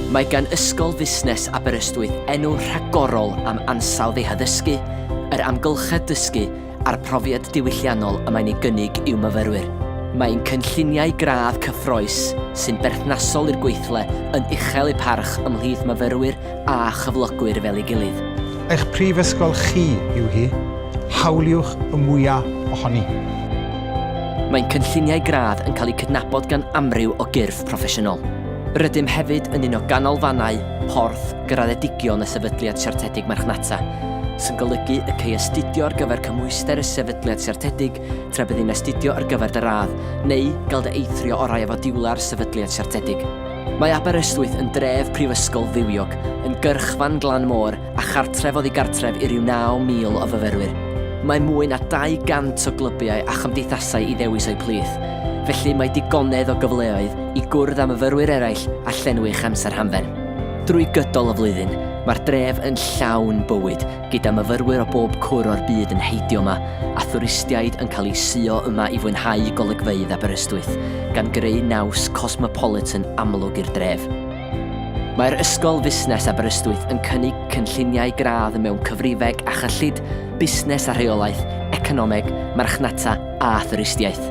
Mae gan Ysgol Fusnes Aberystwyth enw rhagorol am ansawdd ei haddysgu, yr amgylchedd dysgu a'r profiad diwylliannol y mae'n ei gynnig i'w myfyrwyr. Mae ein cynlluniau gradd cyffrous sy'n berthnasol i'r gweithle yn uchel eu parch ymhlith myfyrwyr a chyflogwyr fel ei gilydd. Eich prifysgol chi yw hi, hawliwch y mwyaf ohoni! Mae'n cynlluniau gradd yn cael eu cydnabod gan amryw o gyrff proffesiynol. Rydym hefyd yn un o ganolfannau porth graddedigion y Sefydliad Siartedig Marchnata, sy'n golygu y cei astudio ar gyfer cymhwyster y Sefydliad Siartedig tra bydd yn astudio ar gyfer dy radd, neu gael dy eithrio orau â fodiwlau'r Sefydliad Siartedig. Mae Aberystwyth yn dref prifysgol fywiog, yn gyrchfan glan môr a chartref oddi gartref i ryw 9,000 o fyfyrwyr. Mae mwy na 200 o glybiau a chymdeithasau i ddewis o'u plith, felly mae digonedd o gyfleoedd i gwrdd â myfyrwyr eraill a llenwi'ch amser hamdden. Drwy gydol y flwyddyn, mae'r dref yn llawn bywyd, gyda myfyrwyr o bob cwr o'r byd yn heidio yma, a thwristiaid yn cael eu suo yma i fwynhau golygfeydd Aberystwyth, gan greu naws cosmopolitan amlwg i'r dref. Mae'r Ysgol Fusnes Aberystwyth yn cynnig cynlluniau gradd mewn cyfrifeg a chyllid, busnes a rheolaeth, economeg, marchnata a thwristiaeth.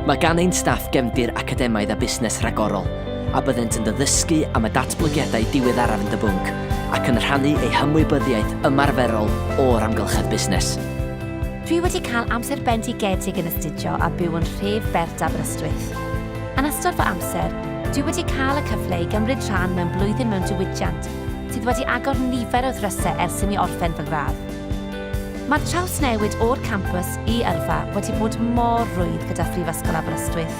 Mae gan ein staff gefndir academaidd a busnes rhagorol, a byddent yn dy ddysgu am y datblygiadau diweddaraf yn dy bwnc ac yn rhannu eu hymwybyddiaeth ymarferol o'r amgylchedd busnes. Dwi wedi cael amser bendigedig yn astudio a byw yn nhref bert Aberystwyth. Yn ystod fy amser, dwi wedi cael y cyfle i gymryd rhan mewn blwyddyn mewn diwydiant sydd wedi agor nifer o ddrysau ers i mi orffen fy ngradd. Mae'r trawsnewid o'r campws i yrfa wedi bod mor rwydd gyda Phrifysgol Aberystwyth.